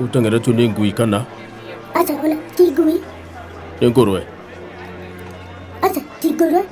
Ũtengeretio nĩ ngui kana Aca ona ti ngui. nĩ ngũrwe, Aca ti ngũrwe.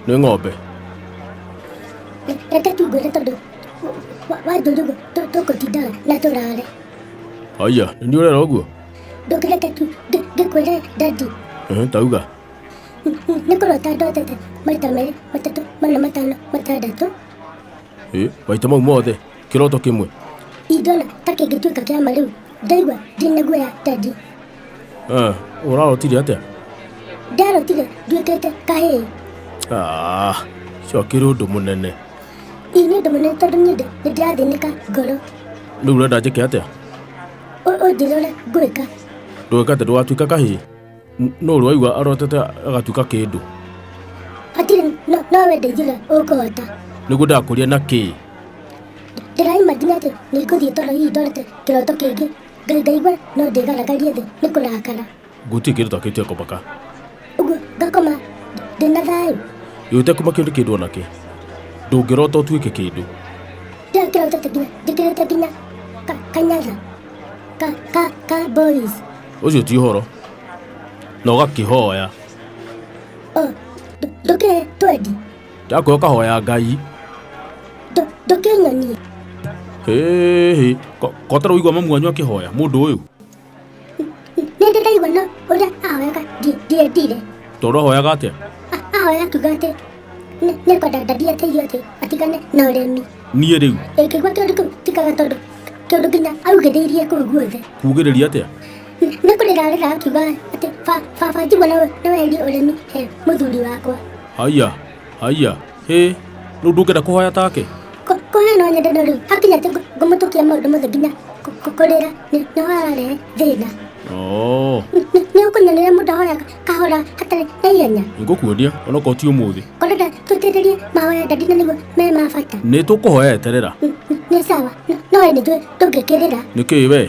nĩ ng'ombe. Re- Reke tungwĩre tondũ wa- wanjũria ũguo tũ- tũkũtindaga na tũrare. Haiya, nĩ niĩ ũrera ũguo? Ndũkĩreke tu ngĩ- ngĩkwĩre dadi. Ehe, Tauga, Nĩ kũrota ndotete maita merĩ matatũ mana matano matandatũ. ĩ, maita mau mothe. kiroto kimwe Ingĩona ta kĩngĩtuĩka kĩa ma rĩu, ndaigua ndĩ na guoya Teddy. Eh, urarotire atia Ndarotire nduĩkĩte kahĩĩ. Ah, ũcio akĩrĩ ũndũ mũnene Ii nĩ ũndũ mũnene tondũ niĩ ndĩ- nĩ ndĩrathĩnĩka ngoro. rĩu ũrenda njĩke atia Ũ- Ũnjĩrĩre ũrĩa ngwĩka. ndũgĩka atĩ ndũgatuĩka kahĩĩ N- no å rä waigua arotete agatuĩka kä ndå hatirĩ no- no wendeithire ũkũhota nä guo ndakå ria na kä ndĩraima nginya atĩ nĩ ngũthiĩ toro hihi ndorete kĩroto kĩngĩ ngai ndaigua no ndĩgaragarie thĩ nĩ kũrakara ngå tirä kä ndå takä tia komaka ũguo ngakoma ndĩna thayũ ä te kuma kä ndå kä ndå onakä ndå ngä rota å tuä ke kä ndå kĩrĩa kĩrotete nginya njĩkĩrĩte nginya ka- kanyatha ka ka ka boys ũcio ti ũhoro na ũgakĩhoya ndũke twendi ndakwe ũkahoya ngai ndũke nyonie hĩhĩ kotara ũigua mamu wanyu akĩhoya mũndũ ũyũ nĩndĩ ndaigua no ũrĩa ahoyaga ndiendire tondũ ahoyaga atĩa ahoya akiuga atĩ nĩkwenda ndathiĩ ateithio atĩ atigane na ũremi niä rä u ĩngĩ gwa kĩndũ kĩu tikaga tondũ kĩndũ nginya augĩrĩirie kũu guothe kugä rä ria atä a nĩ kũrĩrarĩra akiuga atĩ "Ba- baba njigua nĩ weherie ũrĩmi he mũthuri wakwa haiya haiya hä rä u ndå ngä enda kå hoya take Kũ- kũhe no nyende no rĩu hakinya atĩ ngũ- ngũmũtũkia maũndũ mothe nginya kũ- kũ- kũrĩra nĩ- nĩho ararehe thĩna Oo. Nĩ- nĩ- nĩ ũkũnyonera mũndũ ahoyaga kahora hatarĩ na ihenya nĩngũkuonia onokorwo ti ũmũthĩ korenda tũtetherie mahoya ndandi na nĩguo me ma bata nĩ tũkũhoya eterera N- n- nĩ sawa N- no we nĩjũĩ ndũngĩkĩrĩra nĩkĩĩ wee